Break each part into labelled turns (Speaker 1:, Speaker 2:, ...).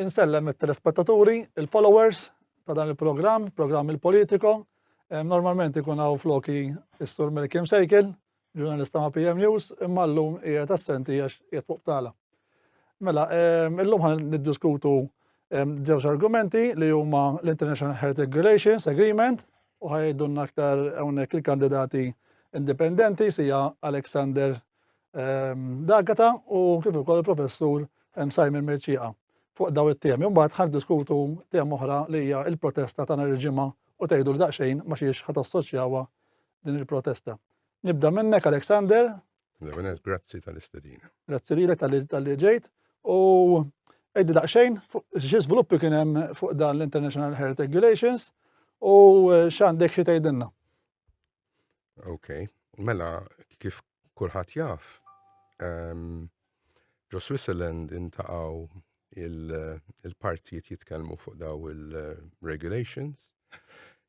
Speaker 1: Insellem it-telespettaturi, il-followers ta' dan il-programm, programm il-Politico. Normalment ikun hawn floki is-Sur Melkim Sejkil, ġurnalista ma' PM News, imma llum qiegħed assenti għax qiegħed fuq tala. Mela, illum ħan niddiskutu żewġ argumenti li huma l-International Heretic Relations Agreement u ħajdunna aktar hawnhekk il-kandidati indipendenti sija Alexander D'Agata u kif ukoll il-Professur Simon Merċieqa fuq daw it-temi. Mbagħad ħan diskutu tema oħra li hija l-protesta ta' nhar il-ġimgħa u tgħidu daqsxejn ma xiex ħadd assoċjawha din il-protesta. Nibda minnek Alexander. Levenes, grazzi
Speaker 2: tal-istedina. Grazzi lilek tal-li
Speaker 1: ġejt u għeddi daqsxejn xi żviluppi kien hemm fuq dan l-International Health Regulations u x'għandek xi tgħidilna.
Speaker 2: Ok, mela kif kulħadd jaf, ehm, ġo Switzerland intaqaw il-partijiet jitkellmu fuq daw il-regulations.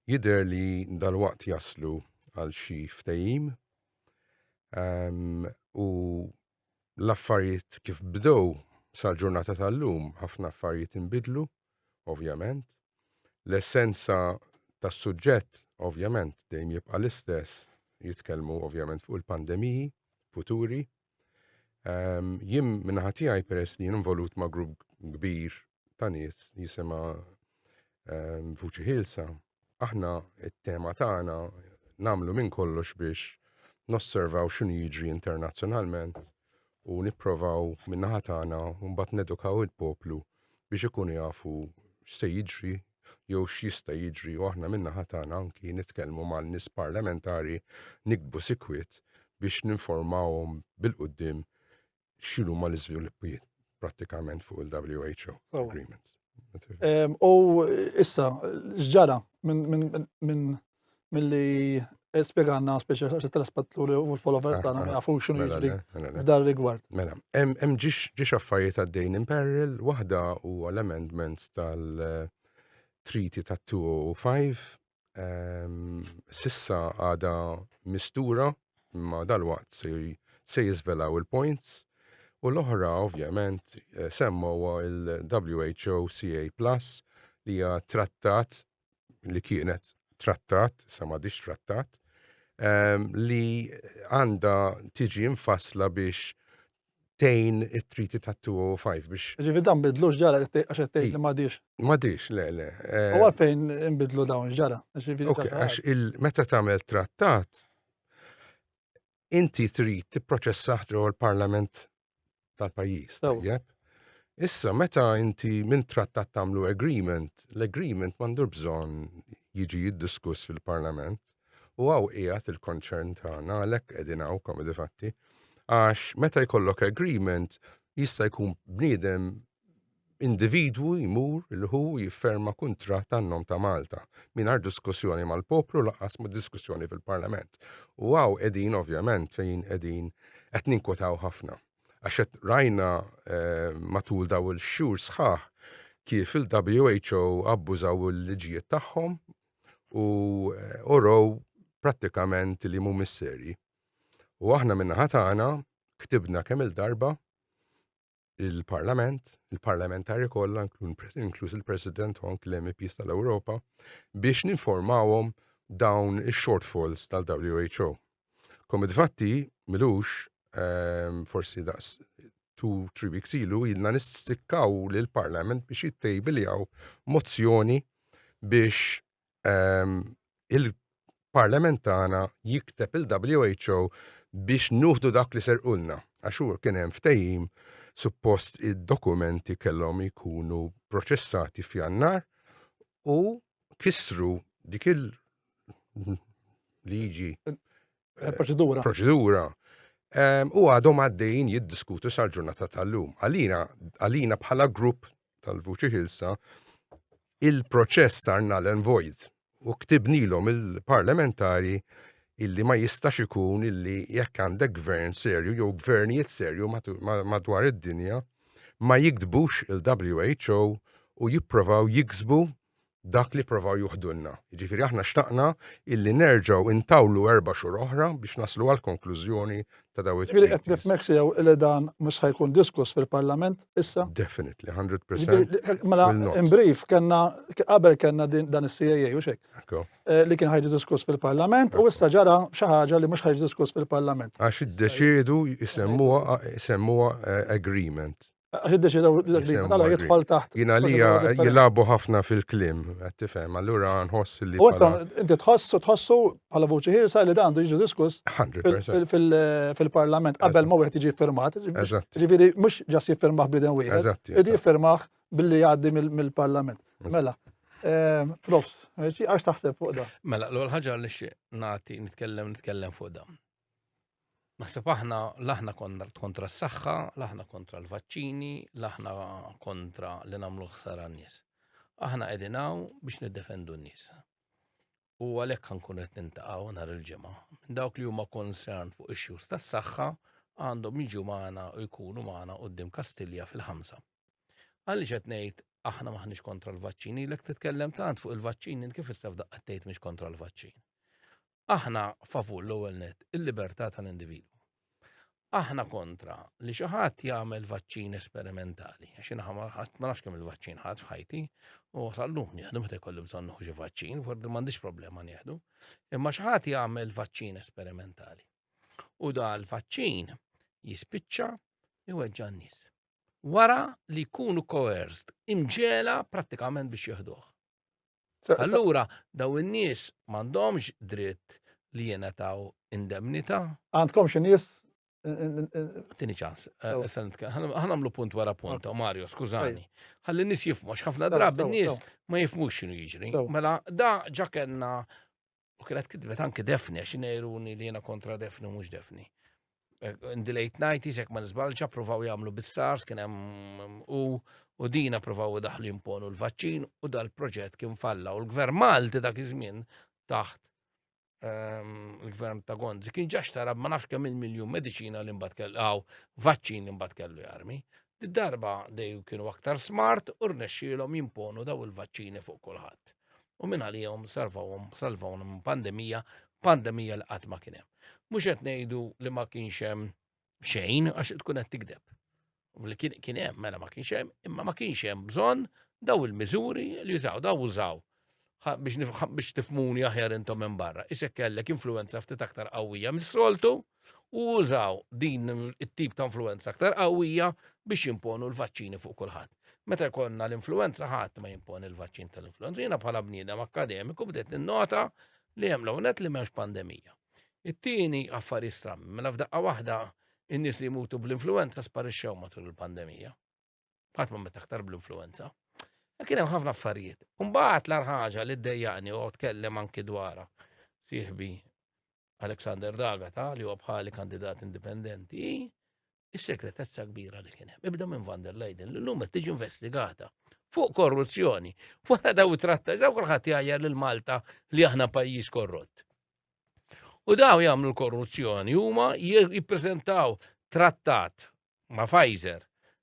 Speaker 2: Jider li dal-waqt jaslu għal xi ftejim ehm, u l-affarijiet kif bdew sal-ġurnata tal-lum ħafna affarijiet inbidlu, ovvjament. L-essenza tas-suġġett ovvjament dejjem jibqa' l-istess, jitkellmu ovvjament fuq il-pandemiji futuri. Ehm, jien minnaħa tiegħi peress li jien involut ma' grupp kbir ta' nies jisimha ehm, vuċi ħilsa, aħna it-tema tagħna namlu minn kollox biex nosservaw x'inhu jiġri internazzjonalment u nipprovaw min-naħa tagħna mbagħad nedukaw il-poplu biex ikunu jafu x'se jiġri jew x'jista' jiġri u aħna minna ħatana anki nitkellmu mal-nies parlamentari nikbu sikwit biex ninformawhom bil-qudiem xinu ma l-izviluppijiet pratikament fuq il-WHO agreements. U
Speaker 1: issa, ġġara minn li spieganna speċi għax telespattur u l-followers tagħna ma jafu xinu mela, jiġri mela, mela. f'dar rigward. Mela, hemm
Speaker 2: ġiex affarijiet għaddejn in peril, waħda u l-amendments tal-Treaty ta' 205 ehm, sissa għada mistura imma dal-waqt se jizvelaw il-points u l-oħra ovvjament eh, semmawa il-WHO CA Plus li hija trattat li kienet trattat, sa ma trattat, ehm, li għanda tiġi infasla biex tejn it-Treaty ta' 205 biex. Ġifi dan bidlu x'ġara
Speaker 1: għax qed tgħid li m'għadix. M'għadix, le, le.
Speaker 2: Eh, u għalfejn
Speaker 1: inbidlu dawn x'ġara? Għax
Speaker 2: meta tagħmel trattat, inti trid tipproċessaħ ġo l-Parlament tal-pajjiż. Tajjeb. Issa meta inti minn trattat tagħmlu agreement, l-agreement m'għandu bżonn jiġi jiddiskuss fil-Parlament. U hawn qiegħed il-konċern tagħna għalhekk qegħdin hawn komedi fatti għax meta jkollok agreement jista' jkun bniedem individwu jmur il-ħu jifferma kuntratt tan-nom ta' Malta mingħajr diskussjoni mal-poplu laqas ma' diskussjoni fil-Parlament. U għaw qegħdin ovvjament fejn qegħdin qed ninkwetaw ħafna. Għax qed rajna eh, matul daw il-xhur sħaħ kif il-WHO abbużaw il-liġijiet tagħhom u orow prattikament li mu misseri. U aħna minna ħatana ktibna kemm il-darba il-parlament, il-parlamentari kollha, inkluż il-president Honk l-MPs tal-Ewropa, biex ninformawhom dawn ix-shortfalls tal-WHO. Komit fatti, milux, ehm, forsi daqs tu tri weeks ilu, jilna nistikkaw li l-parlament biex jittejbiljaw mozzjoni biex ehm, il-parlament tagħna jikteb il-WHO biex nuħdu dak li serqulna. Għax hu kien hemm ftehim suppost id-dokumenti kellhom jkunu proċessati f'jannar u kissru dik il-liġi. Eh, proċedura. Proċedura. U għadhom għaddejn jiddiskutu sal-ġurnata tal-lum. Għalina, għalina bħala grupp tal-Vuċi Hilsa, il-proċess sarna l-envojt u ktibnilhom il-parlamentari illi ma jistax ikun illi jekk għandek gvern serju jew gvernijiet serju madwar id-dinja ma jiktbux il-WHO u jipprovaw jiksbu dak li pprovaw juħdulna. Jiġifieri aħna xtaqna illi nerġgħu intawlu erba' xhur oħra biex naslu għall-konklużjoni ta' dawn it-treaties. Jiġifieri qed nifhmek sew
Speaker 1: illi dan mhux ħa jkun diskuss fil-Parlament issa? Definitely, 100 percent.
Speaker 2: Mela,
Speaker 1: in brief, kellna qabel kellna dan is-CAA u xek. Eh, li kien
Speaker 2: ħajġi diskuss
Speaker 1: fil-Parlament u issa ġara xi ħaġa li mhux ħajġi diskuss fil-Parlament. Għax iddeċiedu
Speaker 2: jsemmuha eh, agreement. Għax id-deċidaw
Speaker 1: dak li għala jitfall taħt. Jina li jilabu
Speaker 2: ħafna fil-klim, għattifem, allura nħoss li. U inti
Speaker 1: tħossu, tħossu għala vuċi ħilsa li dan jiġu diskuss
Speaker 2: fil-parlament
Speaker 1: qabel ma wieħed jiġi firmat. Ġifiri, mux
Speaker 2: ġas
Speaker 1: jiffirmaħ biden wieħed. Id jiffirmaħ billi għaddi mill-parlament. Mela, ehm, profs, għax taħseb fuq da. Mela, l-ħagġa li xie
Speaker 3: nati, nitkellem, nitkellem fuq da. Naħseb aħna l-aħna kontra s-saħħa, l-aħna kontra l-vaċċini, l-aħna kontra li nagħmlu ħsara n-nies. Aħna qegħdin hawn biex niddefendu n-nies. U għalhekk ħankun qed nintaqgħu nhar il-ġimgħa. Minn dawk li huma concern fuq issues tas-saħħa għandhom jiġu magħna u jkunu magħna qudiem Kastilja fil-ħamsa. Għalli qed ngħid aħna maħniex kontra l-vaċċini, l titkellem tant fuq il-vaċċini kif issa f'daqqa tgħid mhix kontra l-vaċċin. Aħna favur l-ewwel net il-libertà tal-individwu. Aħna kontra li xi ħadd jagħmel vaċċin esperimentali, għax inħa ma ħadd ma nafx kemm il-vaċċin ħadd f'ħajti, u sallum nieħdu meta jkollu bżonn xi vaċċin, forsi m'għandix problema nieħdu. Imma xi ħadd jagħmel vaċċin esperimentali. U da l-vaċċin jispiċċa iweġġa' n-nies. Wara li jkunu coerced, imġela prattikament biex jieħduh. Allura, daw in-nies m'għandhomx dritt li jenataw indemnita. Għandkom xi nies Tini ċans, eh, ħanamlu punt wara punt, Mario, skużani. Għalli nis jifmu, ħafna drabi nis ma jifmu xinu jiġri. Mela, da ġakenna U kienet kidbet anki defni, għax nejruni li jena kontra defni mux defni. Eh, in the late 90s, jek ma nizbalġa, provaw jamlu bis-SARS, kien hemm u u dina provaw daħlu jimponu l-vaċċin u dal-proġett kien falla. U l-gvern Malti dak iż-żmien taħt ehm, l-gvern ta' Gonzi kien ġax tara ma nafx kemm il-miljun mediċina li mbagħad kellu għaw vaċċin li mbagħad kellu jarmi. Darba dej kienu aktar smart u rnexxielhom jimponu daw il-vaċċini fuq kulħadd. u minn għalihom salvawhom salvawhom minn pandemija, pandemija li qatt ma kien hemm. Mhux qed ngħidu li ma kienx hemm xejn għax tkun qed tikdeb. Li kien hemm mela ma kienx hemm, imma ma kienx hemm bżonn daw il-miżuri li jużaw, daw użaw biex tifmuni aħjar intom minn barra. Isek kellek influenza ftit aktar qawwija mis-soltu, u użaw din it-tip ta' influenza aktar qawwija biex jimponu l-vaċċini fuq kulħadd. Meta jkollna l-influenza ħadd ma jimponi l-vaċċin tal-influenza. Jiena bħala bniedem akademiku bdejt ninnota li hemm l-ewnet li m'hemmx pandemija. It-tieni affarijiet strammi, mela f'daqqa waħda in-nies li jmutu bl-influenza sparixxew matul il-pandemija. Ħadd ma meta aktar bl-influenza. E kien hemm ħafna affarijiet. Mbagħad l ħaġa li ddejjaqni u tkellem anki dwarha sieħbi Alexander Dagata li huwa bħali kandidat indipendenti is-segretezza kbira li kien hemm. Ibda minn van der Leiden li llum qed tiġi investigata fuq korruzzjoni. Wara daw tratta, daw kulħadd jgħajja lil Malta li aħna pajjiż korrott. U daw jagħmlu l-korruzzjoni huma jippreżentaw trattat ma' Pfizer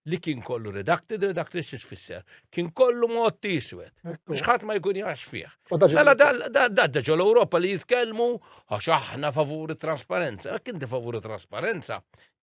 Speaker 3: li kien kollu redacted, redacted xiex fisser. Kien kollu mod tiswet. Xħat ma jkun jax fih. Mela dadda ġol Ewropa li jitkellmu għax aħna favuri trasparenza. Għak inti favuri trasparenza.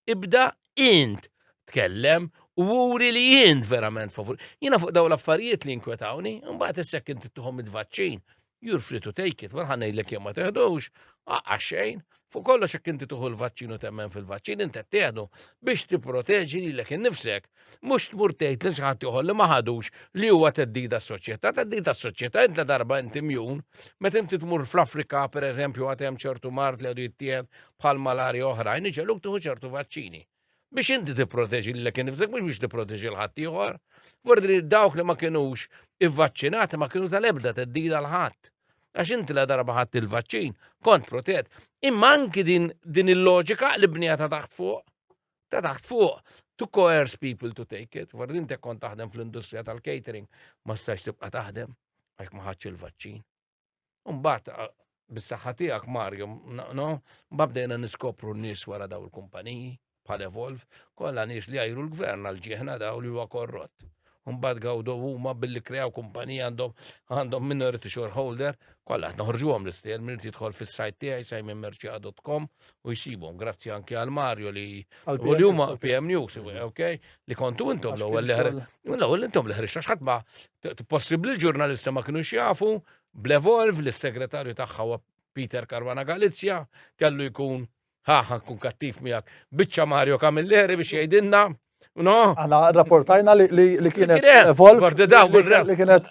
Speaker 3: Ibda int tkellem u wuri li jint verament favur. Jina fuq daw l-affarijiet li inkwetawni, mbagħad issek inti tuħom id-vaċċin. You're free to take it, ma ħa ngħidlek jekk ma teħdux, aqqa xejn, fuq kollox jekk inti tuħu l-vaċċin u temmen fil-vaċċin inti teħdu biex tipproteġi lilek innifsek. Mhux tmur tgħid lil xi ħadd ieħor li ma ħadux li huwa teddida s-soċjetà, teddida s-soċjetà inta darba inti mjun, meta inti tmur fl-Afrika pereżempju għad hemm ċertu mart li għadu jittieħed bħal malari oħrajn, iġeluk tuħu ċertu vaċċini. Biex inti tipproteġi lilek innifsek mhux biex tipproteġi l ħadd ieħor. Vordi li dawk li ma kinux ivvaċċinati ma kienu tal-ebda teddida l ħadd. Għax inti la darba ħadd il-vaċċin, kont protett. Imma anki din, din il-loġika li bnija ta' taħt fuq, ta' taħt fuq, to coerce people to take it. Vordi inti kont taħdem fl-industrija tal-catering, ma stax tibqa' taħdem għax ma ħadx il-vaċċin. Mbagħad bis-saħħa tiegħek Mario, no, mbagħad bdejna niskopru n-nies wara daw il-kumpaniji bħal Evolve, kollha nies li għajru l-gvern għal ġieħna daw li huwa korrott. Mbagħad gawdu huma billi krew kumpanija għandhom għandhom minority shareholder, kollha noħorġuhom l-istil minn jidħol fis-sajt tiegħi sajminmerċia.com u jsibhom grazzi anke għal Mario li u li huma PM News, okay, li kontu intom l-ewwel li l-ewwel intom li ħriġna x'ħadd ma possibbli l-ġurnalisti ma kinux jafu bl-evolv li s-segretarju tagħha huwa Peter Caruana Galizja kellu jkun ħaħa kun kattiv miegħek biċċa Mario Camilleri biex jgħidilna No? Għana rapportajna
Speaker 1: li kienet evolv. Għardi daw, li kienet.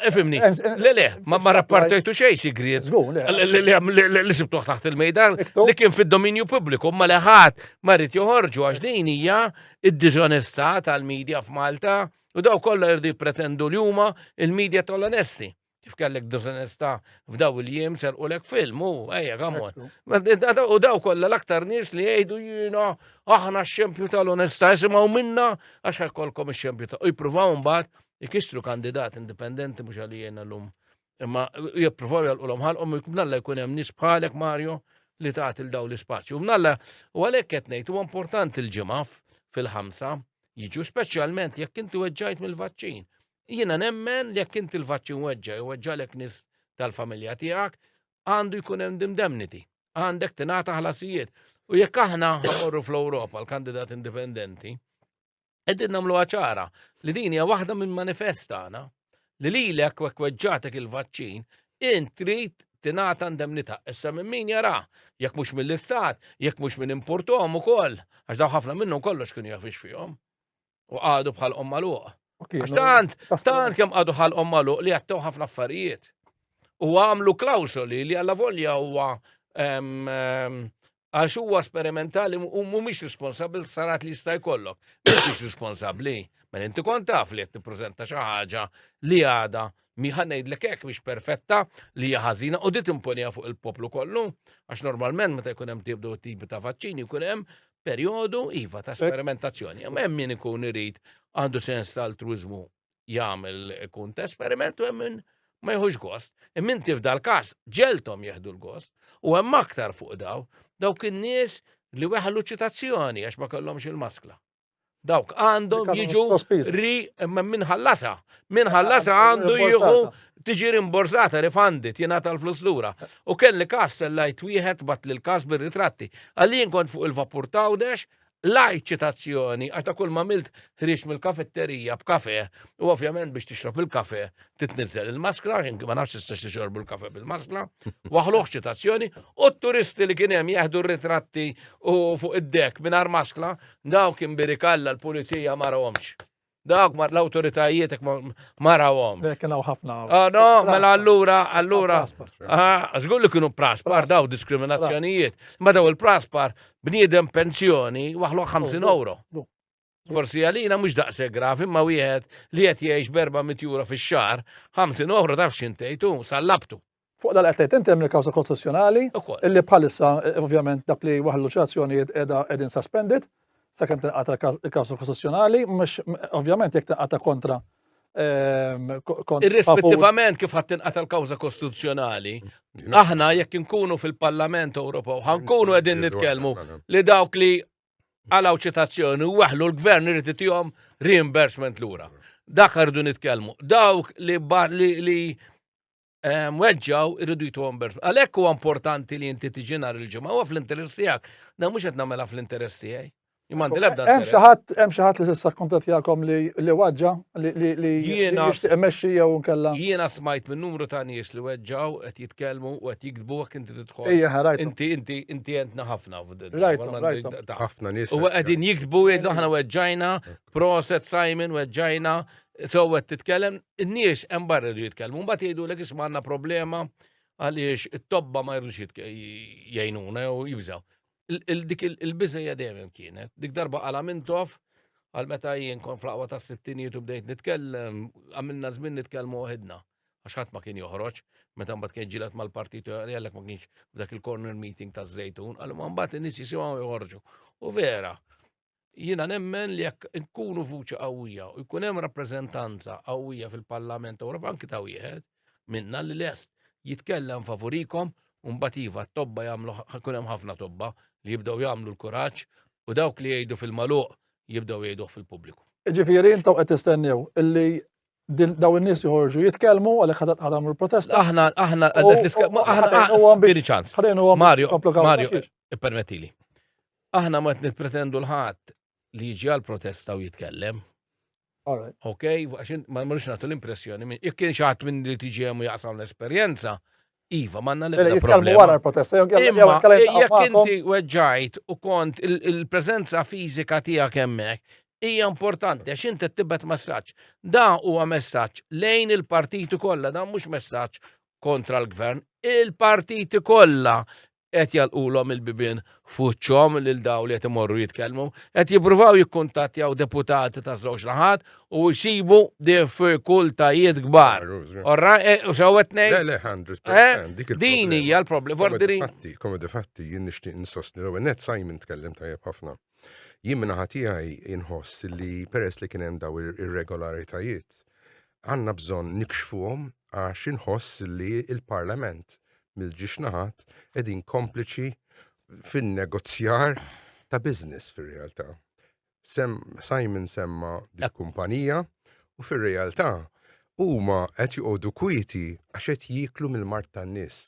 Speaker 3: Efimni, le le, ma rapportajtu xej sigriet. Li sibtuħ taħt il-mejdan, li kien fil-dominju publiku, ma liħat, marrit joħorġu għax din hija id-dizonesta tal-medja f'Malta. Malta U daw kollha jirdu jippretendu li huma il-medja tal-onesti. Kif kellek dozanesta f'daw il-jiem serqulek film, u ejja, għamon. U daw kollha l-aktar nies li jgħidu jiena aħna x-xempju tal-onesta, jisimaw minna għax ħekkolkom x-xempju ta' u jipruvaw mbagħad ikissru kandidat indipendenti mhux għalijena l-lum Imma jippruvaw jolqulhom ħalqhom mnalla jkun hemm nies bħalek Mario li tagħti l daw l-ispazju. Mnalla u għalhekk qed ngħid huwa importanti l-ġimgħa fil-ħamsa jiġu speċjalment jekk inti weġġajt mill-vaċċin. Jiena nemmen li jekk inti l-vaċċin weġġa' weġġalek nies tal-familja tiegħek għandu jkun hemm dimdemniti. Għandek tingħata ħlasijiet. U jekk aħna ħamorru fl-Ewropa l-kandidat indipendenti, qegħdin nagħmluha ċara li din hija waħda minn manifest tagħna li lilek wek weġġatek il-vaċċin int trid tingħata indemnità. Issa minn min jara, jekk mhux mill-istat, jekk mhux minn importom ukoll, għax daw ħafna minnhom kollox kienu jafix fihom. U għadu bħal omma luq. Għax tant, tant kemm għadu bħal omma luq li għattew ħafna affarijiet. U għamlu klawsoli li għalla volja huwa għax huwa sperimentali u mhumiex responsabbli sarat li jista' jkollok. Mhumiex responsabbli, mela inti kont taf li qed tippreżenta xi ħaġa li għada miħan ngħidlek hekk biex perfetta li hija ħażina u dit imponija fuq il-poplu kollu, għax normalment meta jkun hemm tibdu tipi ta' vaċċini jkun hemm perjodu iva ta' sperimentazzjoni. Hemm min ikun irid għandu sens ta' altruizmu jagħmel ikun ta' esperiment u hemm min ma jħux gost. Immin tif dal-każ ġeltom jeħdu l-gost u hemm aktar fuq daw dawk in-nies li weħlu ċitazzjoni għax ma kellhomx il-maskla. Dawk għandhom jiġu ri imma min ħallasa. Min ħallasa għandu jieħu tiġi rimborsata, rifandit, jena tal-flus lura. U kelli kas sellajt wieħed bat li l-kas bir-ritratti. Għallin kont fuq il-vapur tawdex, L-għid ċitazzjoni għax ta' kulma għamilt ħrieġt mill-kafetterija b'kafe u ovvjament biex tixrob il-kafe titniżżel il-maskra, jien ma nafx tistax tixorbu l-kafe bil-maskra, waħluh ċitazzjoni, u t-turisti li kien hemm jeħdu r-ritratti u fuq id-dek mingħajr maskra, daw kien birikalla l-pulizija ma rawhomx. Dak ma l-autoritajiet ma rawhom. Eh, kien hawn ħafna. Ah,
Speaker 1: no, mela
Speaker 3: allura, allura. Ah, żgur li kienu praspar daw diskriminazzjonijiet. Ma daw il-praspar bniedem pensjoni waħlu 50 oh, euro. Forsi għalina mhux daqse graf imma wieħed li qed jgħix berba mitjura fix-xahar, 50 euro taf x'intejtu, sallabtu. Fuq dan qed tgħid inti
Speaker 1: hemm il-kawża kostituzzjonali illi bħalissa ovvjament dak li waħlu xi azzjonijiet qiegħda qegħdin suspended sakemm tinqata' il-kawża kostituzzjonali, mhux ovvjament jekk tinqata' kontra ehm,
Speaker 3: Irrispettivament kif ħadd tinqata' l-kawża kostituzzjonali, aħna jekk inkunu fil-Parlament Ewropew ħankunu qegħdin nitkellmu li dawk li għalaw ċitazzjoni u waħlu l-gvern irid itihom reimbursement lura. Dak rridu nitkellmu. Dawk li li mweġġaw irridu jitu għamber. Għalek u importanti li jinti tiġi nar il-ġimgħa u fl-interess tiegħek. Na mhux qed nagħmilha fl-interess tiegħi. Imandi l-ebda. Hemm xi
Speaker 1: ħadd hemm xi ħadd li s'issa kuntattjakom li li waġġa li li jiena imexxi jew nkella. Jiena smajt minn numru
Speaker 3: ta' nies li weġġaw qed jitkellmu u qed jikdbu hekk inti tidħol. Ejja ħarajt. Inti inti inti għentna ħafna f'din. Rajt
Speaker 2: ħafna nies. U qegħdin jikdbu
Speaker 3: jgħidu aħna weġġajna, proset Simon weġġajna, sewwet titkellem n-nies hemm barra jridu jitkellmu, mbagħad jgħidulek isma' għandna problema għaliex it-tobba ma jridux jgħinuna jew jibżaw. Dik il-biżejja dejjem kienet, dik darba għala mintof għal meta jien kon flaqwa ta' sittinijiet u bdejt nitkellem, għamilna żmien nitkellmu waħedna. Għax ħadd ma kien joħroġ, meta mbagħad kien ġilat mal-partit għalek ma kienx f'dak il-corner meeting ta' żejtun, għal ma mbagħad in-nies jisimgħu joħorġu. U vera, Jiena nemmen li jekk nkunu vuċi qawwija u jkun hemm rappreżentanza qawwija fil-Parlament Ewropew anki ta' wieħed minna li lest jitkellem favurikom u mbagħad iva t-tobba jagħmlu ħakun hemm ħafna tobba li jibdew jagħmlu l-kuraġġ u dawk li jgħidu fil-maluq jibdew jgħiduh fil-pubbliku. Ġifieri intom qed
Speaker 1: tistennew illi daw in-nies joħorġu jitkellmu għalhekk ħadd ħadam il-protesta. Aħna aħna għadet
Speaker 3: l-iskema aħna ċans. Mario, Mario, permettili. Aħna ma qed nippretendu l ħadd li jiġi għal protesta u jitkellem. Ok, għax ma mhux nagħtu l-impressjoni minn jekk kien xaħat minn li tiġi hemm u jaqsam l-esperjenza, Iva, manna l-ebda mela, problema. wara l-protesta,
Speaker 1: jekk
Speaker 3: inti weġġajt u kont il-prezenza fizika tija kemmek, hija importanti għax inti tibet messaġġ. Da huwa messaġġ lejn il-partiti kollha, da mhux messaġġ kontra l-gvern. Il-partiti kollha qed jagħlqulhom il-bibien f'wiċċhom lil dawn li qed imorru jitkellmu, qed jippruvaw jikkuntattjaw deputati taż-żewġ naħat u jsibu diffikultajiet kbar. Orra, e, u sewwa tnejn. Le, le, 100%. Eh, dik
Speaker 2: il-problema. Din hija
Speaker 3: l-problema. Komedi Vordiri. fatti, komedi
Speaker 2: fatti, jien nixtieq insostni l-ewwel net Simon tkellem tajjeb ħafna. Jien minn naħa tiegħi inħoss li peress li kien hemm daw ir-irregolaritajiet, għandna bżonn nikxfuhom għax inħoss li il-Parlament mill-ġiex naħat qegħdin kompliċi fin-negozjar ta' business fir-realtà. Simon semma dak kumpanija u fir-realtà huma qed joqogħdu kwieti għax qed jieklu mill-mart tan-nies.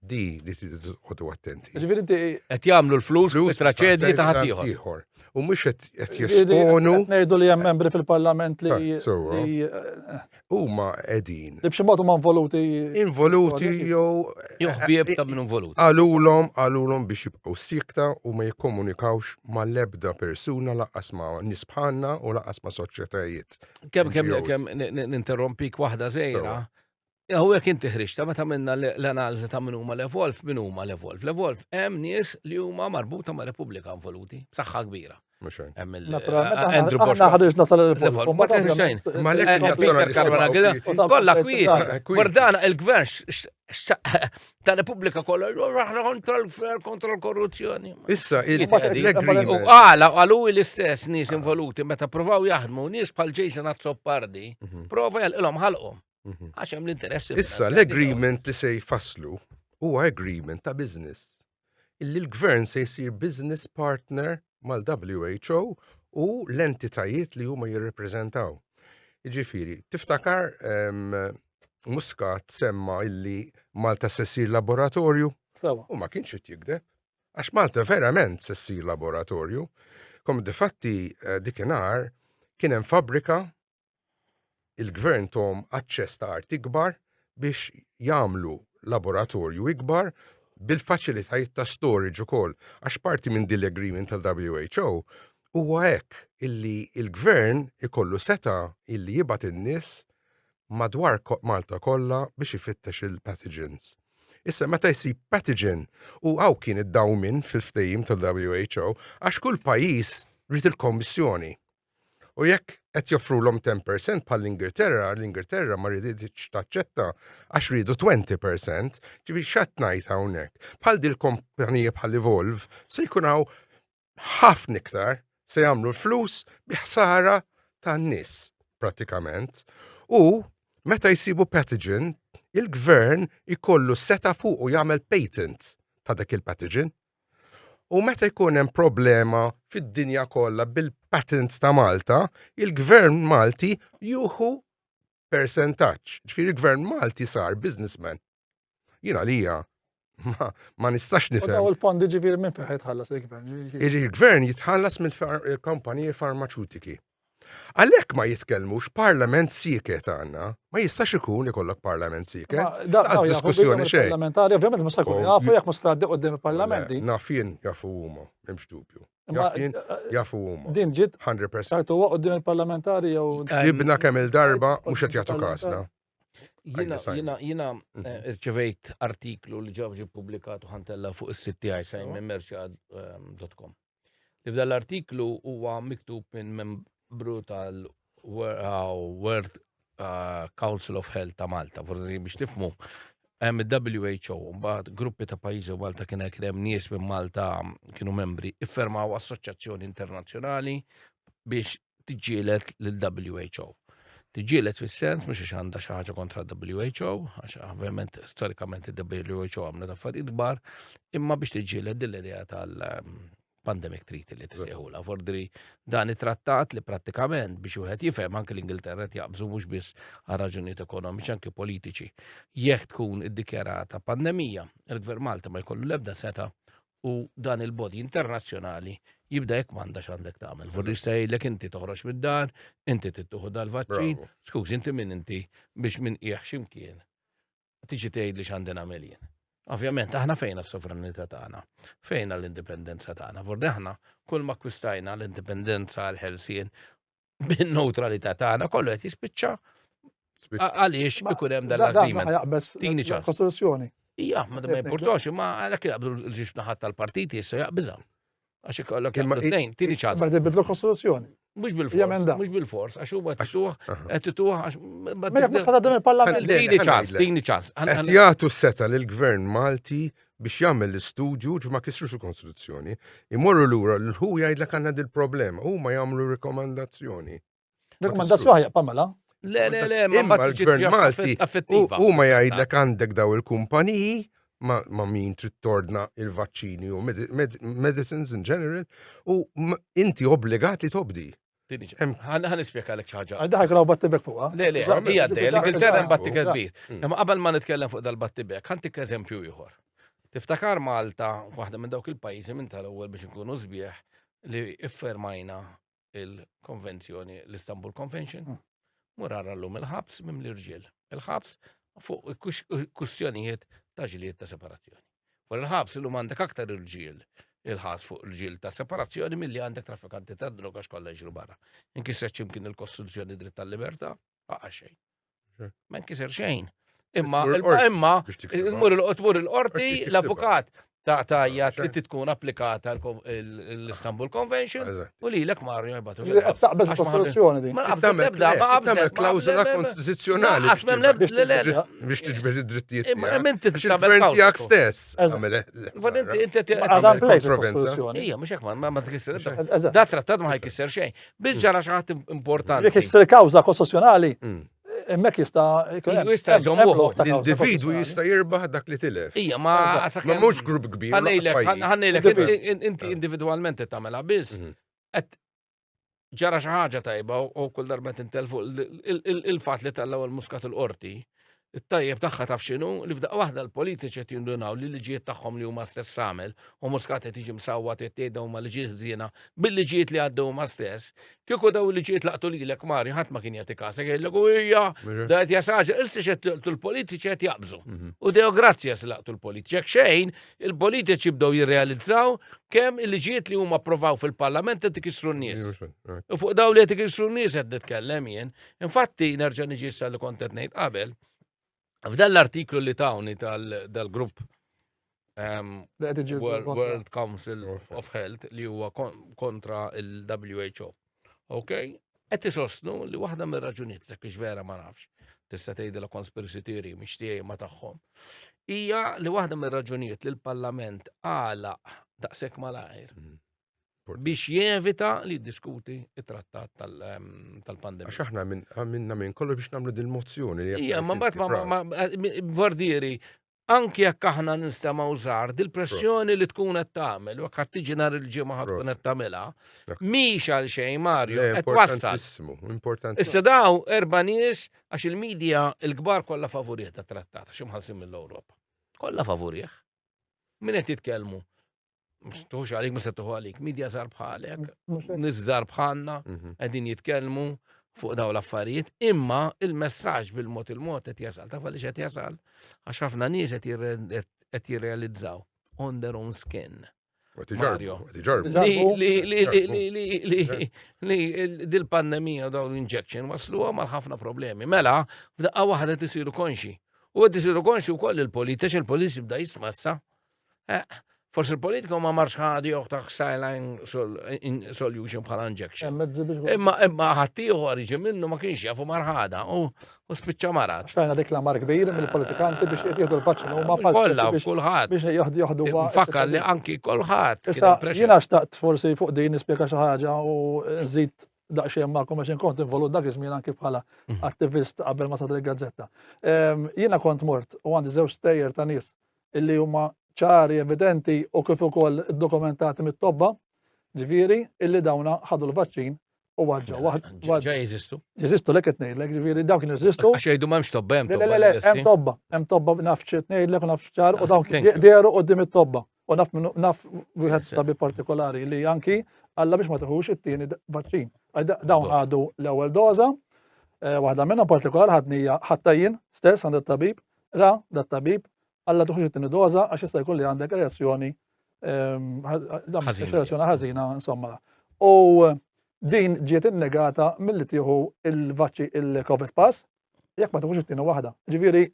Speaker 2: Di li tridu tqogħdu attenti. Ġifieri inti qed
Speaker 1: jagħmlu l-flus
Speaker 3: u traċedji ta' ħadd ieħor. U mhux
Speaker 2: qed jesponu. Ngħidu li hemm membri
Speaker 1: fil-Parlament li eh, huma
Speaker 2: qegħdin. Li b'xi mod huma involuti.
Speaker 1: Involuti
Speaker 2: jew joħbieb
Speaker 3: ta' minn involuti. Qalulhom qalulhom
Speaker 2: biex jibqgħu sikta u ma jikkomunikawx mal-ebda persuna laqas ma' nies bħalna u laqas ma' soċjetajiet. Kemm kemm kemm
Speaker 3: ninterrompik waħda żejra Hawnhekk inti ħriġta meta minna l-analiżi ta' min huma l-evolv, min huma l-evolv. L-evolv hemm nies li huma marbuta ma' Repubblika involuti, saħħa kbira. Andrew Bosch. Ħriġna sal-evolv.
Speaker 1: Ma teħriġajn. Ma l-ek
Speaker 3: il-Peter Karwana għida. Kolla kwiet. Bordana il-gvern ta' Repubblika kolla. Raħna kontra l-gvern, kontra l-korruzzjoni. Issa,
Speaker 2: il-agreement. U
Speaker 3: għala, għalu l-istess nis involuti meta provaw jaħdmu, nis pal Jason Azzopardi, prova jgħal-ilom ħalqom. Mhm. Għax hemm l-interess. Issa l-agreement
Speaker 2: li se jfasslu huwa agreement ta' business. Illi l-gvern se jsir business partner mal-WHO u l-entitajiet li huma jirrepreżentaw. Ġifiri, tiftakar Muscat semma illi Malta se ssir laboratorju? Sawa. U ma kienx qed jikdeb. Għax Malta verament se ssir laboratorju. Kom difatti eh, dikinhar kien hemm fabrika il-gvern tom aċċess ta' art ikbar biex jagħmlu laboratorju ikbar bil-faċilitajiet ta' storage ukoll. Għax parti minn din l-agreement tal-WHO huwa hekk illi il-gvern ikollu seta illi jibgħat in-nies madwar Malta kollha biex ifittex il-pathogens. Issa meta jsib pathogen u għaw kien id-dawmin fil-ftejim tal-WHO għax kull pajjiż rrit il-kommissjoni. U jekk qed joffrulhom 10% bħal l-Ingilterra, l-Ingilterra ma ridietx taċċetta għax ridu 20%, ġifieri x'għad ngħid hawnhekk. Bħal dil kompanija bħal Evolve se jkun hawn ħafna iktar se jagħmlu l-flus bi ħsara tan-nies pratikament. U meta jsibu pathogen, il-gvern ikollu seta fuq u jagħmel patent ta' dak il-pathogen. U meta jkun hemm problema fid-dinja kollha bil-patents ta' Malta, il-gvern Malti juhu percentaġġ. Ġifieri il-gvern Malti sar businessman. Jien għalija ma nistax nifhem. U l-fondi ġifieri minn
Speaker 1: fejn jitħallas il-gvern? Il-gvern
Speaker 2: jitħallas mill-kumpaniji farmaċutiki. Għalhekk ma jitkellmux parlament sieket għandna, ma jistax ikun ikollok parlament sieket. Daqs diskussjoni xejn. Parlamentari ovvjament mhux se jkun
Speaker 1: jafu jekk mhux tgħaddi qudiem il-parlament din. Naf jien jafu
Speaker 2: huma, m'hemmx dubju. Naf jien jafu huma. Din ġiet 100%.
Speaker 1: Sartu huwa qudiem il-parlamentari jew. Ibna kemm
Speaker 2: il-darba mhux qed jagħtu kasna. Jina,
Speaker 3: jina, jina irċivejt artiklu li ġabġi publikatu ħantella fuq is-sitti għajsajn minn merċad.com. li f'dan l-artiklu huwa miktub minn membru tal-World uh, Council of Health ta' Malta, forsi biex tifmu hemm il-WHO, mbagħad gruppi ta' pajjiżi u Malta kien hekk hemm nies minn Malta kienu membri, iffermaw assoċjazzjoni internazzjonali biex tiġġielet l-WHO. Tiġġielet fis-sens mhux għax għandha xi ħaġa kontra WHO, għax ovvjament storikament il-WHO għamlet affarijiet kbar, imma biex tiġġielet din l-idea tal-pandemic treaty li tisejħula. Fordri dan it-trattat li prattikament biex wieħed jifhem anke l-Ingilterra qed jaqbżu mhux biss għal raġunijiet ekonomiċi anke politiċi. Jekk tkun iddikjarata pandemija, il-Gvern Malta ma jkollu l-ebda seta' u dan il-body internazzjonali jibda jekk m'għandax għandek tagħmel. Vorri jgħidlek inti toħroġ mid-dar, inti tittuħu dal-vaċċin, skuż inti min inti biex minn qiegħ x'imkien tiġi tgħid li x'għandi nagħmel jien. Ovvjament, aħna fejna s-sovranità tagħna, fejna l-indipendenza tagħna. Vorri aħna kull ma kwistajna l-indipendenza għal ħelsien bin-neutralità tagħna kollu qed jispiċċa għaliex ikun hemm dan l-agreement. Tini ċar. Kostituzzjoni.
Speaker 1: Ija, ma ma
Speaker 3: jimportax, ma għalhekk jaqbdu l-ġiex naħat tal-partiti issa jaqbiża. Għax ikollok jaqbdu tnejn, tini ċar. Ma jibdlu kostituzzjoni.
Speaker 1: Mux bil-fors,
Speaker 3: mux bil-fors, għax huwa tixuħ, qed tituħ għax. Ma jekk dan
Speaker 1: il-parlament. Tini ċans, tini ċans.
Speaker 3: Qed jagħtu seta'
Speaker 2: lill-gvern Malti biex jagħmel l-istudju ġ ma kisrux il-Konstituzzjoni, imorru lura l ħu jgħidlek għandna dil-problema, huma jagħmlu rekomandazzjoni. Rekomandazzjoni
Speaker 1: ħajja pamela. Le, le, le,
Speaker 3: ma l-Gvern
Speaker 2: Malti huma jgħidlek għandek daw il-kumpaniji ma min trid tordna il-vaċċini u medicines in general u inti obbligat li tobdi. Għan
Speaker 3: ispjeka l-ek ċaġa. Għal daħi għaw battibek fuqa.
Speaker 1: Le, le, hija d
Speaker 3: l-Ingilterra hemm battibek kbir. Imma qabel ma nitkellem fuq dal-battibek, ħantik eżempju ieħor. Tiftakar Malta, waħda minn dawk il-pajjiżi minn tal-ewwel biex nkunu sbieħ li iffermajna il-konvenzjoni, l-Istanbul Convention. Hmm. Murar għallum il-ħabs mimli rġiel. Il-ħabs fuq kustjonijiet ta' ġlied ta' separazzjoni. Fuq il-ħabs illum għandek aktar irġiel il-ħas fuq il-ġil ta' separazzjoni mill-li għandek traffikanti ta' droga xkolla ġru barra. Inkiser ċimkien il-kostruzzjoni dritt tal-liberta, għaqa xejn. Ma inkiser xejn. Imma, imma, il-mur il-qorti, l-avukat, ta' tajja trid tkun applikata l-Istanbul Convention u li l-ek marri jibatu. Taqbeż kostituzzjoni
Speaker 1: din. Ma qabżet ebda, ma
Speaker 3: qabżet klawzola
Speaker 2: konstituzzjonali. Għasmem lebda biex tiġbeż id-drittijiet. Imma inti tagħmel
Speaker 3: tiegħek stess.
Speaker 2: Għad inti inti tagħmel
Speaker 3: kostituzzjoni. Ija, mhux hekk ma ma tkisser. Da trattat ma ħajkisser xejn. Biss ġara xi ħadd importanti. Jekk kawża
Speaker 1: kostituzzjonali, Emmek jista' jkun. Jista' jżomm l-individu
Speaker 2: jista' jirbaħ dak li tilef. Ija, ma ma
Speaker 3: mhux grupp
Speaker 2: kbir. Ħannejlek,
Speaker 3: inti individwalment qed tagħmilha biss. Mhm. Qed ġara xi ħaġa tajba u kull darba tintel fuq il-fatt li tellgħu l-muskat il-qorti. It-tajjeb tagħha taf x'inhu li f'daq waħda l-politiċi qed jindunaw li liġijiet tagħhom li huma stess għamel u muskat qed jiġi msawwa tgħidhom ma liġijiet żiena bil-liġijiet li għaddew ma stess Kieku daw il-liġijiet laqtu lilek Mari, ħadd ma kien jagħti kasek jgħidlek u hija da qed jasaġa, issa xed laqtu l-politiċi qed jaqbżu. Mhm. U dew grazzja se laqtu l-politiċi. Jekk xejn, il-politiċi bdew jirrealizzaw kemm il-liġijiet li huma approvaw fil-Parlament qed ikissru n-nies. Eh. U fuq daw li qed ikissru n-nies qed nitkellem jien. Infatti nerġa' niġi sa li kont qed ngħid qabel. F'dan l-artiklu li tawni tal-grupp ehm, World Council of Health li huwa kontra il-WHO. Ok? Qed isostnu li waħda mir-raġunijiet ta' kiex vera ma nafx tista' tgħid la conspiracy theory mhix tiegħi ma tagħhom. Hija li waħda mir-raġunijiet li l-Parlament għala daqshekk malajr mm. biex jevita li jiddiskuti it-trattat ehm, tal-pandemija. Għax aħna
Speaker 2: minna minn kollu biex namlu dil-mozzjoni. Ija, ma bat ma
Speaker 3: għardieri, eh, anki jekk aħna nistama użar, dil-pressjoni li tkun qed tagħmel, u qed tiġi nhar il-ġimgħa ħad tkun qed tagħmilha, mhix għal xejn Mario, qed wassal. Importanti. Issa daw erba' nies għax il-medja il-kbar kollha favurih ta' trattat, xi mħassim mill-Ewropa. Kollha favurih. Min qed jitkellmu? Mux għalik, mux tuħu għalik. Midja zar bħalek, nis zar bħalna, mhm. għedin jitkelmu fuq daw l-affarijiet, imma il-messagġ bil-mot il-mot għet jasal, ta' falli għet jasal, għax ħafna nis għet jirrealizzaw on their own skin. Mario. Li dil-pandemija daw l-injection waslu għamal ħafna problemi. Mela, f'daqqa wahda tisiru konxi. U għed tisiru konxi u koll il-politiċi, il-politiċi bda jismassa. Eh, Forsi l-politika ma marx ħadi ta' saline solution bħala injection. Imma imma ħaddieħor jiġi minnu ma kienx jafu marħada u spiċċa marat. Xtajna dik la mar kbir
Speaker 1: mill-politikanti biex jieħdu l-vaċċin huma bħal kollha kulħadd
Speaker 3: biex joħdu joħdu
Speaker 1: Fakkar li anki
Speaker 3: kulħadd. Issa jiena xtaqt
Speaker 1: forsi fuq din nispjega xi ħaġa u nżid daqxie ma' għax inkont involut dak iż-żmien anki bħala mhm. attivist qabel ma sadri gazzetta. Ehm, jiena kont mort u għandi żewġ stejjer ta' nies li huma ċari, evidenti u kif ukoll dokumentati mit-tobba, ġifieri illi dawna ħadu l-vaċċin u waġġa waħda. Ġa jeżistu.
Speaker 3: Jeżistu lek qed ngħidlek,
Speaker 1: ġifieri dawk kienu jeżistu. Għax jgħidu m'hemmx tobba hemm tobba.
Speaker 3: Le le le, hemm tobba,
Speaker 1: hemm tobba naf xi ngħidlek u naf x'ċar u dawk dehru qudiem it-tobba. U naf naf wieħed tabi partikolari li anki alla biex ma tiħux it-tieni vaċċin. Dawn ħadu l-ewwel doża, eh, waħda minnhom partikolari ħadnija ħattajjin stess għand it-tabib Ra dat-tabib għal la tuħux it-tieni doża għax jista' jkun li għandek reazzjoni reazzjoni ħażina insomma. U din ġiet innegata milli tieħu il-vaċċi il-COVID pass jekk ma tuħux it-tieni waħda. Ġifieri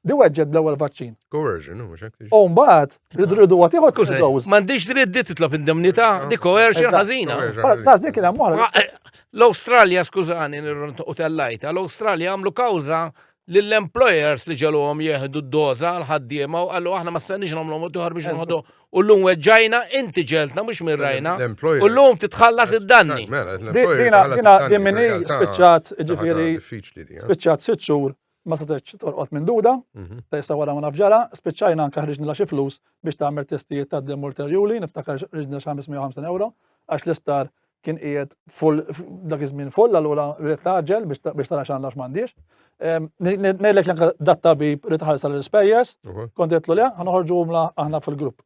Speaker 1: Di weġġed bl-ewwel vaċċin. Coercion, u mhux hekk.
Speaker 2: U mbagħad ridu
Speaker 1: għad ieħor kull dose. M'għandix dritt di titlob
Speaker 3: indemnità di coercion ħażina. Bas dik kien hemm eh,
Speaker 1: L-Awstralja
Speaker 3: skużani u tellajta, l-Awstralja għamlu kawża lill-employers li ġeluhom jieħdu d-doża għal ħaddiema u qalu aħna ma stenniex nagħmlu mod ieħor biex nħodu u llum weġġajna inti ġeltna mhux minn rajna u llum titħallas id-danni. Mela, dina dina
Speaker 1: din minni spiċċat ġifieri spiċċat sitt xhur ma setgħetx torqod minn duda, mhm. ta' issa wara ma nafġara, spiċċajna anke ħriġna xi flus biex tagħmel testijiet ta' dem ulterjuli, niftakar ħriġna xi 550 euro għax l-isptar kien qiegħed full dak iż-żmien full allura rrid taġel biex tara x'għandha x'mandiex. Ehm, ngħidlek l-anka dat tabib rrid ħarsa l-ispejjeż, kont qedlu le, ħanoħorġu għumla aħna fil-grupp.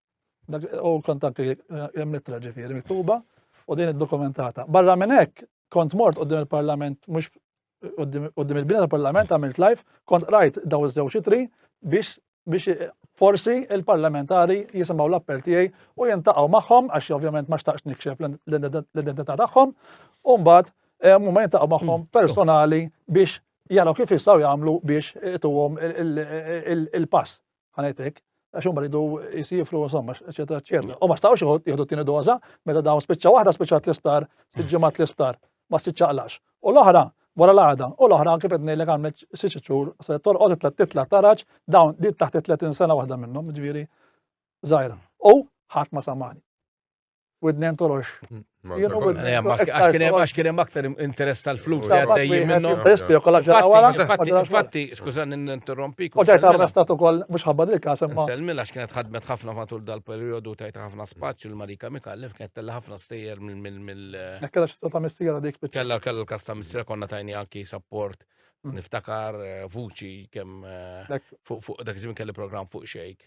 Speaker 1: U kont anke eh, mittra ġifieri miktuba u din id-dokumentata. Barra minn hekk kont mort qudiem il-Parlament mhux qudiem il-bina tal-Parlament għamilt live, kont rajt daw iż-żewġ itri biex biex forsi il-parlamentari jisimgħu l-appell tiegħi u jintaqgħu magħhom għax ovvjament ma xtaqx nikxef l-identità tagħhom u mbagħad eh, huma jintaqgħu magħhom mm. personali biex jaraw kif jistgħu jagħmlu biex ituhom il-pass. ħanajtek, għax huma ridu jisifru, insomma, eċetera, eċetera. U ma stawx jieħdu t-tieni doża, meta dawn spiċċa waħda spiċċa l-isptar, siġġimat l-isptar, ma spiċċaqlax. U l-oħra, wara l-għada, u l-oħra kif qed ngħidlek għamlet siċ xhur se torqod titla' titla' taraġ dawn dit taħt 30 sena waħda minnhom, ġifieri żgħira. U ħadd ma samani. Widni ntolox.
Speaker 3: Għax kien hemm aktar interess tal-flus li għaddejjin minnu. Infatti, skużani n-interrompik. U ġajt arrestat ukoll
Speaker 1: mhux ħabba dil każ imma. Selmil għax kienet ħadmet
Speaker 3: ħafna matul dal-perjodu tajt ħafna spazju l-Marika Mikallef kienet tella ħafna stejjer mill. Kellha xi ta'
Speaker 1: missiera dik. Kellha kellha l-każ ta' missiera
Speaker 3: konna tajni anki support Niftakar eh, vuċi kemm eh, fuq dak iż-żmien kelli programm fuq xejk.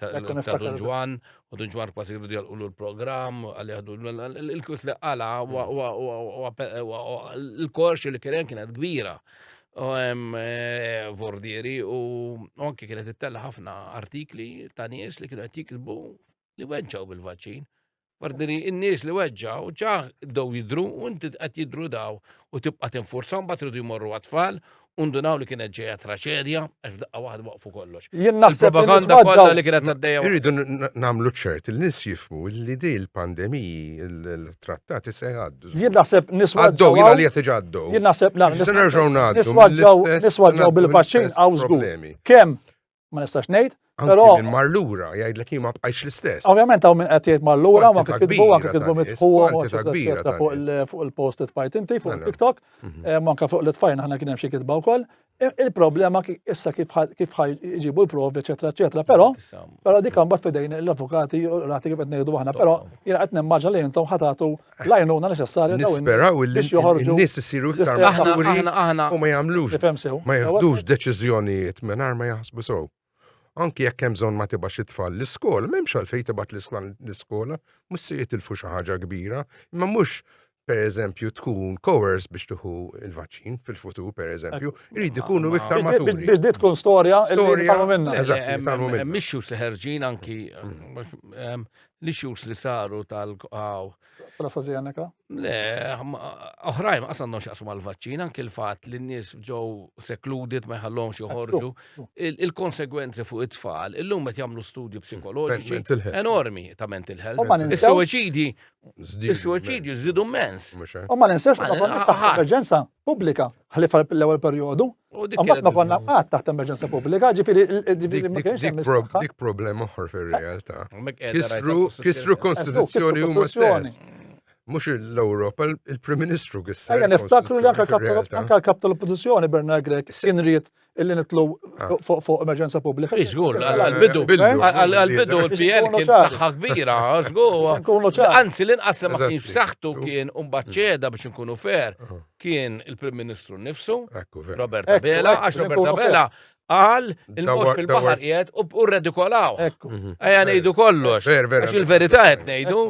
Speaker 3: Ta' Dun Ġwan, u Dun Ġwan kważi jridu jgħalqulu l-programm, għalli għadu l-kus li għala, l-korx li kien kienet kbira. U hemm eh, vordieri u anke kienet ittella ħafna artikli ta' nies li kienu qed jikbu li weġġaw bil-vaċċin. Bardini, in-nies li weġġaw ġa dow jidru u inti qed jidru daw u tibqa' tinfurza mbagħad tridu jmorru għat-tfal undunaw li kienet ġeja traċedja, għax daqqa waħda waqfu kollox. Jien naħseb propaganda
Speaker 1: kollha li kienet
Speaker 3: għaddejja. Irridu nagħmlu
Speaker 2: ċert il nies jifmu li di l-pandemiji, il-trattati se jgħaddu. Jien naħseb niswa
Speaker 1: ġew. Jien għalija tiġa
Speaker 2: għaddu. Jien naħseb
Speaker 1: nagħmlu. Niswa
Speaker 2: ġew
Speaker 1: bil-vaċċin għaw żgur. Kemm ma nistax ngħid. Però min mar lura
Speaker 2: jgħidlek jien ma bqajx l-istess. Ovvjament hawn min qed jgħid
Speaker 1: mar lura ma kitbu anke kitbu mitħuhom fuq il-posted fajt inti fuq mela. TikTok, mhm. eh, manka fuq l-itfajn aħna kien hemm xi kitba wkoll. Il-problema issa kif jġibu l-provi, eċetera, eċetera. Però, però dik imbagħad fidejn l-avukati u rati kif qed ngħidu aħna, però jiena qed nimmaġa li intom ħatatu l-għajnuna neċessarja Nisperaw li
Speaker 2: n-nies isiru iktar maħturi u ma jagħmlux ma jieħdux deċiżjonijiet mingħajr ma jaħsbu sew. Anki jekk hemm bżonn ma tibax it-tfal l-iskola, m'hemmx għalfejn tibgħat l-iskola, mhux se jitilfu xi ħaġa kbira, imma mhux per eżempju tkun kowers biex tuħu il-vaċċin fil-futur per eżempju, jrid ikunu iktar maturi. Biex dit tkun storja li
Speaker 1: jitgħalmu minna. Eżatt, jitgħalmu minna. Mixxu
Speaker 3: seħerġin anki mm. li xux li saru tal għaw. Prasa zjaneka?
Speaker 1: Le,
Speaker 3: oħrajn għasan non xaqsu mal-vaċċin, anki l-fat li n-nis ġew sekludit ma jħallhom joħorġu. Il-konsegwenzi fuq it-tfal, illum qed jagħmlu studju psikoloġiċi enormi ta' mental health. Is-suwiċidi, is-suwiċidi żidu mens. U ma ninsex
Speaker 1: l-emerġenza. pubblika, ħlief għall-ewwel perjodu. Mbagħad ma konna qatt taħt emerġenza pubblika, ġifieri ma kienx hemm is-saħħa. Dik problema oħra
Speaker 2: fir-realtà. Kisru konstituzzjoni huma stess. Mhux l-Ewropa, il-Prim Ministru kisser. Ejja niftakru li anke
Speaker 1: l-kap tal-Oppożizzjoni Bernard Grech kien ried illi nitlu ah. fuq emerġenza pubblika. Iżgur, għal-bidu,
Speaker 3: għal-bidu l-PN kien saħħa kbira, iżgur. Anzi, l-inqas li ma kienx saħħtu kien umbaċċeda biex nkunu fer, ah. kien il-Prim Ministru nifsu, Robert Abela, għax Robert Abela għal il-mod fil-bahar jgħed u redikolaw. Mhm. Għajja nejdu kollox. Għax il-verita jgħed nejdu.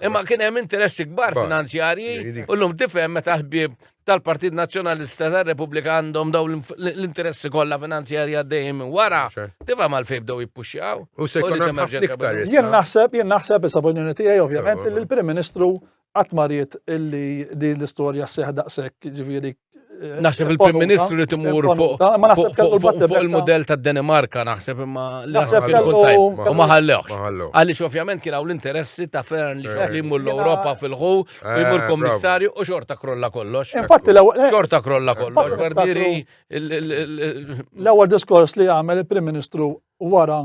Speaker 3: Imma kien hemm interessi kbar finanzjarji u l-lum tifhem meta ħbib tal-Partit Nazzjonalista tar-Repubblika għandhom daw l-interessi kollha finanzjarja dejjem wara, tifhem għal fejn bdew jippuxxjaw. U se jkun hemm ħafna
Speaker 2: iktar. Jien naħseb, jien
Speaker 1: naħseb issa b'unjoni tiegħi ovvjament li l-Prim Ministru qatt mariet illi di l-istorja seħ daqshekk ġifieri eh, Naħseb il-Prim
Speaker 3: Ministru li timur fuq il-modell tad Danimarka naħseb imma naħseb u ma ħallewx. Għaliex ovvjament kien hawn l-interessi ta' Fern li jmur l-Ewropa fil-ħu u jmur eh, kommissarju u xorta krolla kollox. Infatti l-ewwel. Eh, xorta
Speaker 1: krolla eh,
Speaker 3: kollox. Bardieri.
Speaker 1: L-ewwel diskors li għamel il-Prim Ministru wara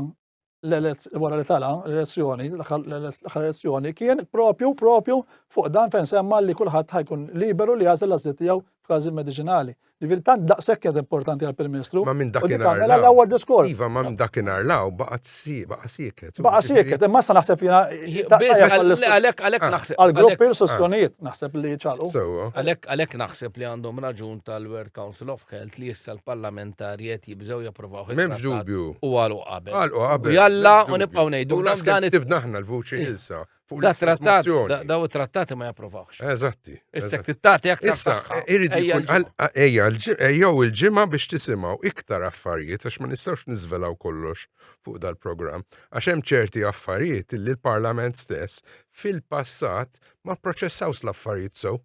Speaker 1: wara li tala l-elezzjoni, l-elezzjoni kien propju propju fuq dan fejn semma li kulħadd ħajkun liberu li jażel l-għażliet tiegħu f'każi mediċinali. Ġifir, tant daqshekk kienet importanti għal Prim Ministru. Ma minn dakinhar. Mela
Speaker 2: l-ewwel diskors. Iva,
Speaker 1: ma minn dakinhar
Speaker 2: law baqgħet baqa' sieket. Baqa' sieket, imma
Speaker 1: sa naħseb jiena. Għalhekk
Speaker 3: għalhekk naħseb. Għall-gruppi l sostjonijiet
Speaker 1: ah. naħseb li ċalu. Għalhekk għalhekk
Speaker 3: naħseb li għandhom raġun tal-World Council of Health li issa l-parlamentari qed jibżgħu japprovaw. M'hemmx dubju. U
Speaker 2: għalu qabel. Għalu
Speaker 3: qabel. Jalla u nibqgħu ngħidu. Dan it-tibna aħna
Speaker 2: l-vuċi ilsa. fuq Da l-istess trattat, da- mozzjoni.
Speaker 3: daw it-trattati ma japprovawx. Eżatti. Issek eżatti.
Speaker 2: tittati aktar
Speaker 3: Issa, eh, saħħa. irrid Ejja
Speaker 2: jkun l-ġimgħa. għal- ejja l-ġi- ejjew il-ġimgħa biex tisimgħu iktar affarijiet għax ma nistgħux niżvelaw kollox fuq dal-programm. Għax hemm ċerti affarijiet li l-Parlament stess fil-passat ma pproċessawx l-affarijiet sew.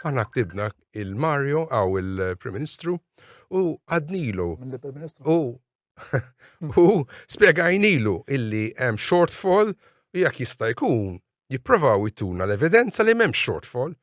Speaker 2: Aħna ktibna il-Mario għaw il-Prim Ministru u għadnilu Mill-Prim Ministru. u u spiegajnilu illi hemm shortfall u jekk jista' jkun jipprovaw jtuna l-evidenza li m'hemm shortfall.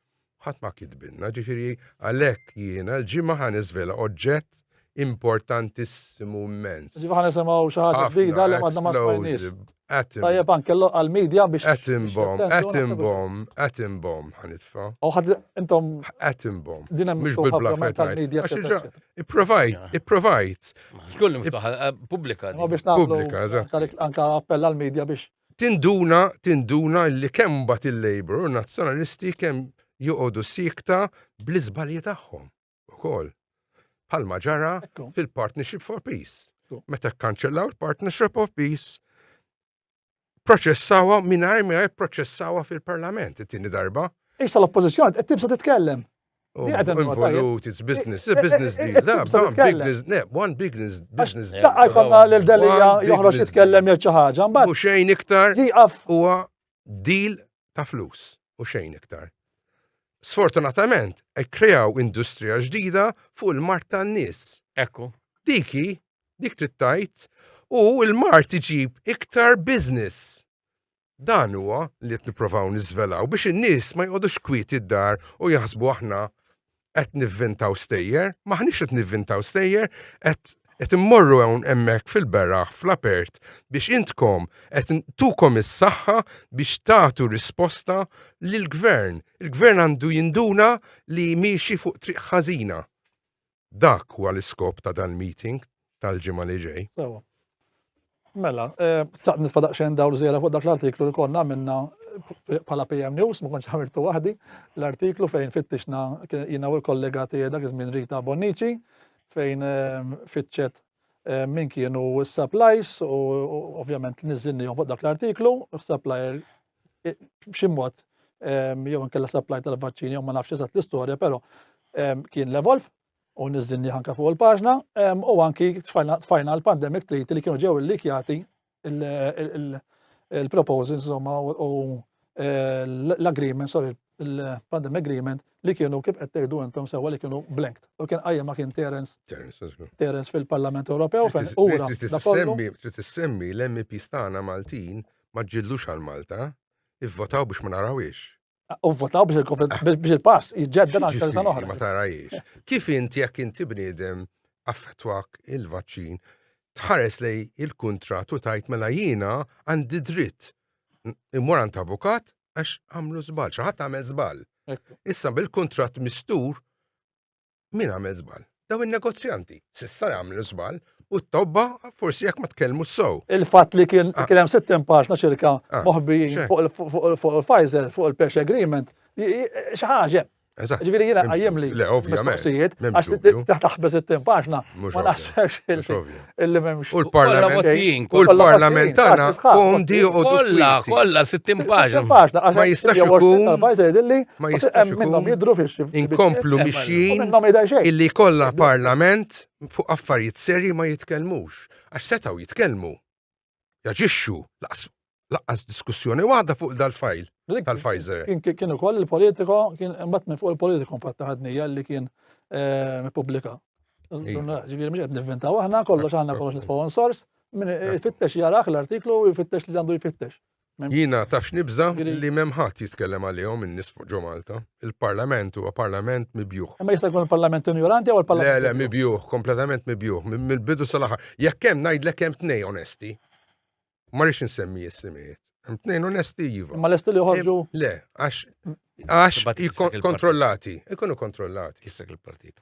Speaker 2: Ħadd ma kitbilna, ġifieri għalhekk jiena l-ġimgħa ħan iżvela oġġett importantissimu immens. Ġifieri ħan nisimgħu xi
Speaker 1: ħaġa ġdida li ma ma smajniex. Atom. Tajjeb anke għal-media biex. Atom bomb, atom bomb,
Speaker 2: atom bomb, ħanitfa. U ħad intom.
Speaker 1: Atom bomb.
Speaker 2: Dina mhux bil-bla
Speaker 1: tal-media.
Speaker 2: Ipprovajt, ipprovajt. Xkollu miftuħa eh,
Speaker 3: pubblika. Pubblika,
Speaker 1: eżatt. Anka appell għal-media biex. Tinduna, tinduna
Speaker 2: li kemm bat il-Labor u nazzjonalisti kemm joqogħdu sikta bl-iżbalji tagħhom. ukoll. Bħalma ġara fil-Partnership for Peace. Meta kkanċellaw il-Partnership of Peace, proċessawa mingħajr mingħajr proċessawa fil-Parlament it-tieni darba. Issa l-oppożizzjoni
Speaker 1: qed tibsa titkellem. Oh, involut,
Speaker 2: it's business, it's business deal. Da, one business, ne, one business, business deal. Daqqa jkonna l-delija
Speaker 1: joħroġ jitkellem jgħid xi ħaġa, mbagħad. U xejn iktar. Jieqaf.
Speaker 2: Huwa deal ta' flus u xejn iktar. Sfortunatament, ekkrejaw industrija ġdida fuq il-mart tan-nies. Ekku.
Speaker 3: Diki,
Speaker 2: dik trid tgħid, u l-mart iġib iktar business. Dan huwa li qed nipprovaw niżvelaw biex in-nies ma joqgħodux kwieti d-dar u jaħsbu aħna qed nivvintaw stejjer, maħniex qed nivvintaw stejjer, qed immorru hawn hemmhekk fil-beraħ fl-apert biex intkom qed tukom is-saħħa biex tagħtu risposta lill gvern Il-gvern għandu jinduna li miexi fuq triq ħażina. Dak huwa l-iskop ta' dan meeting tal-ġimgħa li ġej. Sewa.
Speaker 1: Mela, eh, taqt nitfa daqsxejn dawl żiera fuq dak l-artiklu li konna minna eh, bħala PM News, ma konċ għamiltu waħdi, l-artiklu fejn fittixna jina u l-kollega tiegħi dak iż-żmien Rita Bonnici, fejn eh, fitxet min kienu s-supplies u ovvjament niżinni fuq dak l-artiklu, supplier b'ximmot jew nkella supply tal-vaċċini jew ma nafx eżatt l-istorja, però kien l-evolve u niżilni anka fuq il-paġna, u anki tfajna l-pandemic treaty li kienu ġew il-likjati il-proposals insomma u eh, l-agreement, sorry, il-pandemic agreement li kienu kif qed tgħidu intom sewwa li kienu blanked. U kien qajjem ma kien Terence. Terence fil-Parlament Ewropew fejn ura. Trid
Speaker 2: tissemmi l-MP stana Maltin ma ġillux għal Malta, ivvotaw biex ma narawiex. U votaw
Speaker 1: biex il-pass jġedda għal tal san oħra. Ma tarajiex. Kif
Speaker 2: inti jekk inti bniedem affettwak il-vaċċin, tħares lej il-kontrat u tajt mela jiena għandi dritt immur għand avukat għax għamlu żball, xi ħadd għamel żball. Issa
Speaker 1: bil-kontrat
Speaker 2: mistur min għamel żball? Daw in-negozjanti s'issa jagħmlu żball u t-tobba forsi jekk ma tkellmu s-sow. Il-fatt li kien
Speaker 1: ah. hemm sittin paġna ċirka ah, moħbijin fuq il-Pfizer, fuq il-Pesh Agreement, xi ħaġa. Ġifieri jiena
Speaker 2: qajjem li
Speaker 1: mistoqsijiet
Speaker 2: għax taħbeż
Speaker 1: it-tim
Speaker 2: paġna
Speaker 1: ma naħsebx illi
Speaker 2: memx. U
Speaker 1: l-parlament.
Speaker 2: U l-parlament
Speaker 3: tagħna
Speaker 2: hum di u kollha kollha 60
Speaker 3: paġna. Ma jistax
Speaker 2: ikun. Ma
Speaker 1: jistax minnhom
Speaker 2: jidru fix. Inkomplu
Speaker 1: mixjin
Speaker 2: illi
Speaker 1: kollha parlament
Speaker 2: fuq affarijiet serji ma jitkellmux. Għax setgħu jitkellmu. jaġixxu laqqas diskussjoni waħda fuq dal-fajl tal-Pfizer. Kien ukoll
Speaker 1: il-politiko, kien mbagħad minn fuq il-politiko fatta ħadnija li kien eh, pubblika. Ġifieri mhux qed nivvintaw aħna kollox aħna kollox nitfgħu source, min ifittex jaraħ l-artiklu u jfittex li għandu jfittex. Jiena taf
Speaker 2: x'nibża' li m'hemm ħadd jitkellem għalihom in-nies fuq ġo Malta. Il-Parlament huwa Parlament mibjugħ. Imma jista' jkun il-Parlament
Speaker 1: injoranti jew il-Parlament. Le, le, mibjugħ, kompletament
Speaker 2: mibjugħ, mill-bidu sal-aħħar. Jekk hemm ngħidlek hemm tnejn onesti. Ma rridx insemmi is-simijiet. Hemm tnejn onesti iva. Imma lesti li joħorġu?
Speaker 1: Le, għax
Speaker 2: għax kontrollati, ikunu kontrollati. Kissek il-partit.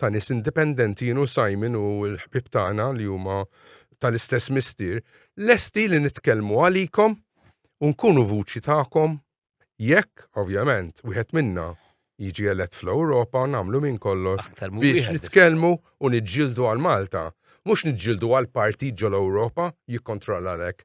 Speaker 2: ta' nies indipendenti jien u Simon u l-ħbib tagħna li huma tal-istess mistier, lesti li nitkellmu għalikom u nkunu vuċi tagħkom jekk, ovvjament, wieħed minna jiġi elett fl-Ewropa nagħmlu minn kollox biex nitkellmu u niġġieldu għal Malta. Mhux niġġieldu għal partit ġol-Ewropa jikkontrolla lek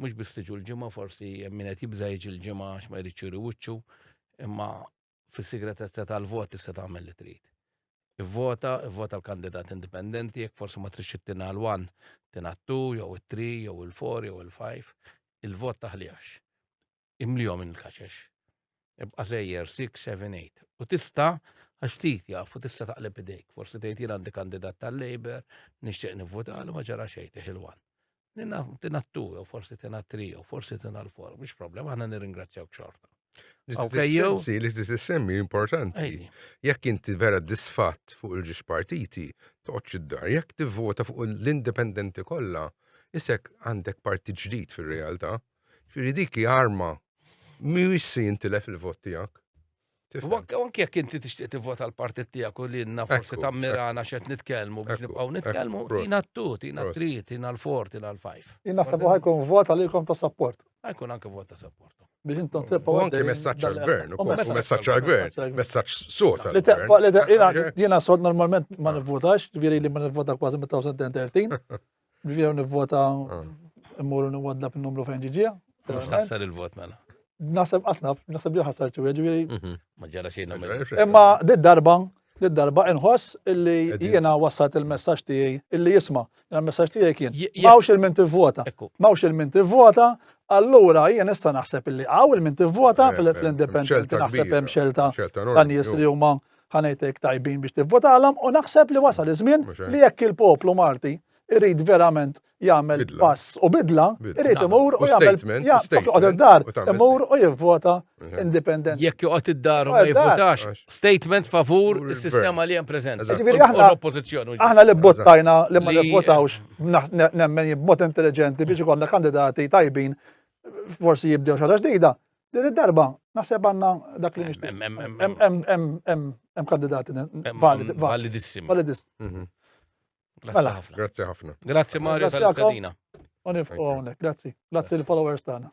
Speaker 3: mhux biss tiġu l-ġimgħa forsi hemm min qed jibża' jiġi l-ġimgħa għax ma jridx juri wiċċu, imma fis-sigretezza tal-vot tista' tagħmel li trid. Ivvota, ivvota l-kandidat indipendenti, jekk forsi ma tridx ittina l-1, tina t-2, jew it-3, jew il-4, jew il-5, il-vot taħlijax. imlihom minn il-kaxex. Ibqa' sejjer 6, 7, 8. U tista' għax ftit jaf u tista' taqleb idejk. Forsi tgħid jien għandi kandidat tal-Labor, nixtieq nivvutalu ma ġara xejn teħilwan. Nina tina t-tu, jew forsi tina t-tri, jew forsi tina l-for, mhux problema, aħna nirringrazzjawk xorta. Sensi
Speaker 2: li tissemmi importanti. Jekk inti vera disfatt fuq il-ġiex partiti, toqgħodx id-dar, jekk tivvota fuq l-indipendenti kollha, isek għandek parti ġdid fir-realtà. Ġifieri dik hi arma mhuwiex se jintilef il-vot tiegħek.
Speaker 3: Anki jekk inti tixtieq tivvota l-partit tiegħek u li jenna forsi tammirana xed nitkellmu biex nibqgħu nitkellmu, tina t-tut, tina t-trit, tina l-for, tina l-fajf. Jina sabu ħajkun
Speaker 1: vot għalikom ta' support. Ħajkun anke vot ta'
Speaker 3: support. Biex intom tibqgħu.
Speaker 1: Anke messaġġ għall-gvern,
Speaker 2: u messaġġ għall-gvern, messaġġ sot. Jina sot normalment
Speaker 1: ma nivvotax, ġviri li ma nivvota kważi mit-2013. Ġifieri nivvota immur nwadda b'numru fejn ġiġija. Mhux taħsar il-vot
Speaker 3: mela. Naħseb qatt naf,
Speaker 1: naħseb li ħasar ċu, ġifieri. Mhm. Ma ġara xejn nagħmel.
Speaker 3: Imma did-darba
Speaker 1: darba inħoss illi jiena wassat il-messaġġ tiegħi illi jisma' il-messaġġ tiegħi kien mawx il-min tivvota. Mawx il-min tivvota, allura jien issa naħseb illi għaw il-min tivvota eh, eh, fl-independent naħseb hemm xelta tan-nies li huma ħanejtek tajbin biex tivvotalhom u naħseb li wasal iż-żmien li jekk il-poplu Malti irrid verament jagħmel pass u bidla, irrid imur u jagħmel joqgħod id-dar, imur u jivvota indipendenti. Jekk joqgħod id-dar
Speaker 3: u ma jivvotax, statement favur is-sistema li hemm preżenti. Ġifieri aħna l-oppożizzjoni.
Speaker 1: Aħna li bottajna li ma nivvotawx nemmen b'mod intelliġenti biex ikollna kandidati tajbin forsi jibdew xi ġdida. Din id-darba, naħseb għanna dak li nixtieq. Hemm kandidati validi. Validissimi. Validissimi. Mhm. Grazzi mela. ħafna. Grazzi ħafna.
Speaker 2: Grazzi Mario
Speaker 1: tal-istadina.
Speaker 3: Unif,
Speaker 2: grazzi.
Speaker 1: Grazzi
Speaker 3: l-followers tagħna.